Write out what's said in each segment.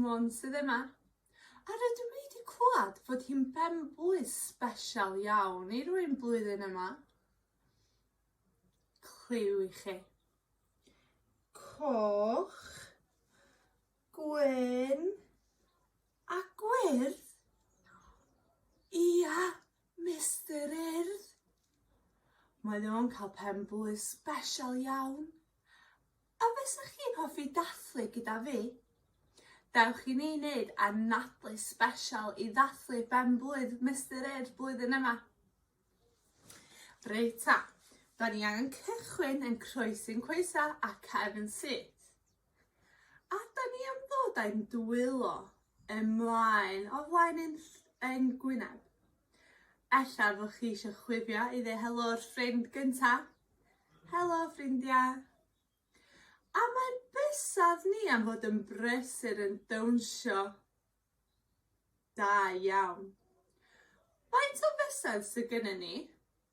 Môn sydd yma. A rydw i wedi clywed fod hi'n benblwydd sbesial iawn i rwy'n blwyddyn yma. Clyw i chi. Coch, Gwyn a gwyrdd? Ia, Mister Urdd. Mae o'n cael pen-blwydd sbesial iawn. A fysa chi'n hoffi dathlu gyda fi? Dewch i ni wneud anadlu sbesial i ddathlu ben-blwydd Mister Urdd blwyddyn yma. Reit ta, da ni angen cychwyn yn croesi'n coesau a cefn syth. A da ni am ddod â'n dwylo ymlaen o flaen ein, ein gwyneb. Ella fod chi eisiau chwifio i ddeu helo o'r ffrind gynta. Helo ffrindiau. A mae bysaf ni am fod yn brysur yn dawnsio. Da iawn. Faint o fysedd sydd gennym ni?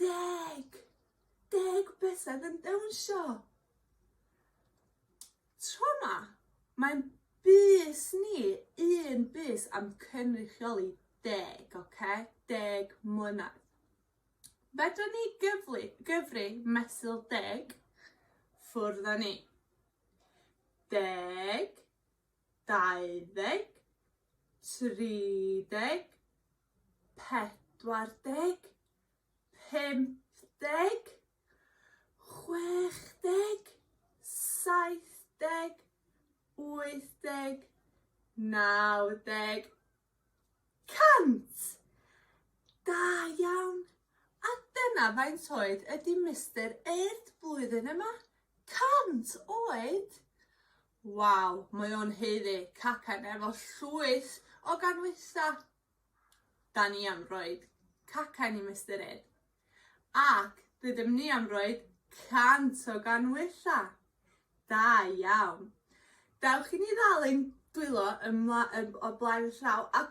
Deg! Deg bysedd yn dawnsio! Tro yma, mae'n bys ni, un bys am cynrychioli deg, oce? Okay? Deg mlynedd. Fedra ni gyflu, gyfri mesul deg, ffwrdd â ni. Deg, dau ddeg, tri deg, pedwar deg, pump deg, chwech deg, saith deg, wyth deg, naw deg, cant! Da iawn! A dyna faint oed ydy Mister Urdd blwyddyn yma? Cant oed! Waw, mae o'n haeddu cacen efo llwyth o ganwysa! Da ni am roed cacen i Mister Ed. Ac rydym ni am roed 100 o ganwysa! Da iawn! Dewch i ni ddal ein dwylo ymla yn o blaen y llaw a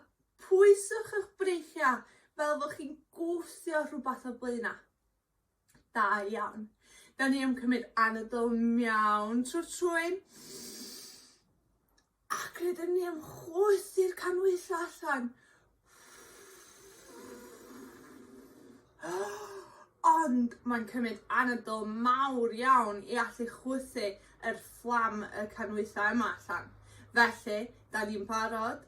pwyswch eich breichiau fel fod chi'n gwthio rhywbeth o blaenau. Da iawn. Da ni am cymryd anadl miawn trwy'r trwyn. Ac rydym ni am chwythu'r canhwyllau allan. Ond mae'n cymryd anadl mawr iawn i allu chwythu yr fflam y canwythau yma allan. Felly, da ni'n barod?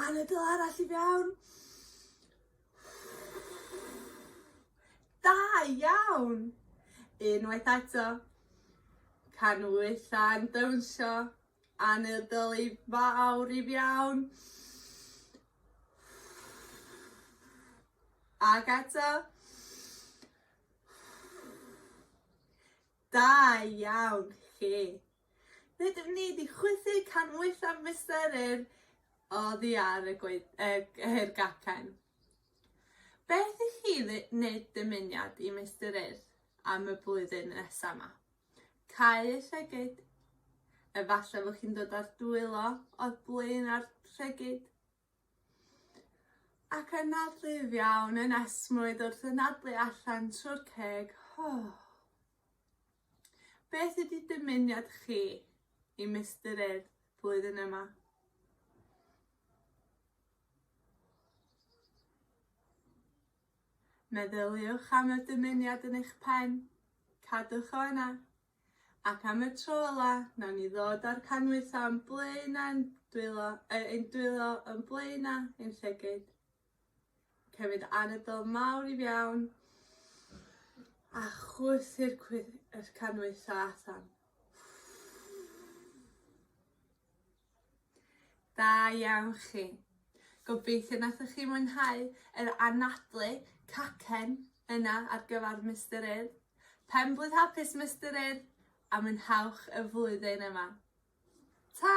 Anadl arall i fewn. Da iawn! Unwaith eto. Canwytha'n dawnsio. Anadl i fawr i fewn. Ac eto. Da iawn chi! Rydym ni 'di chwythu can waetha Mister Yr oddi ar y gwe- y yr gacen. Beth i chi ddy- wneud dymuniad i Mister Yr am y blwyddyn nesa ma? Cau y llygid? Efallai fod chi'n dod â'r dwylo o'r blaen a'r llygid? Ac yna rhydd iawn yn esmwyth wrth anadlu allan trwy'r ceg. Beth ydi dymuniad chi i Mister Urdd flwyddyn yma? Meddyliwch am y dymuniad yn eich pen. Cadwch o yna. Ac am y tro ola, nawn ni ddod â'r canhwyllau yn blaen a'n dwylo, er, ein dwylo yn blaen a ein llygyd. Cymryd anadl mawr i fiawn a chwythu'r canhwyllau allan. Da iawn chi. Gobeithio nathoch chi mwynhau yr anadlu cacen yna ar gyfer Mister Urdd. Pen-blwydd hapus Mister Urdd a mwynhewch y flwyddyn yma. Ta!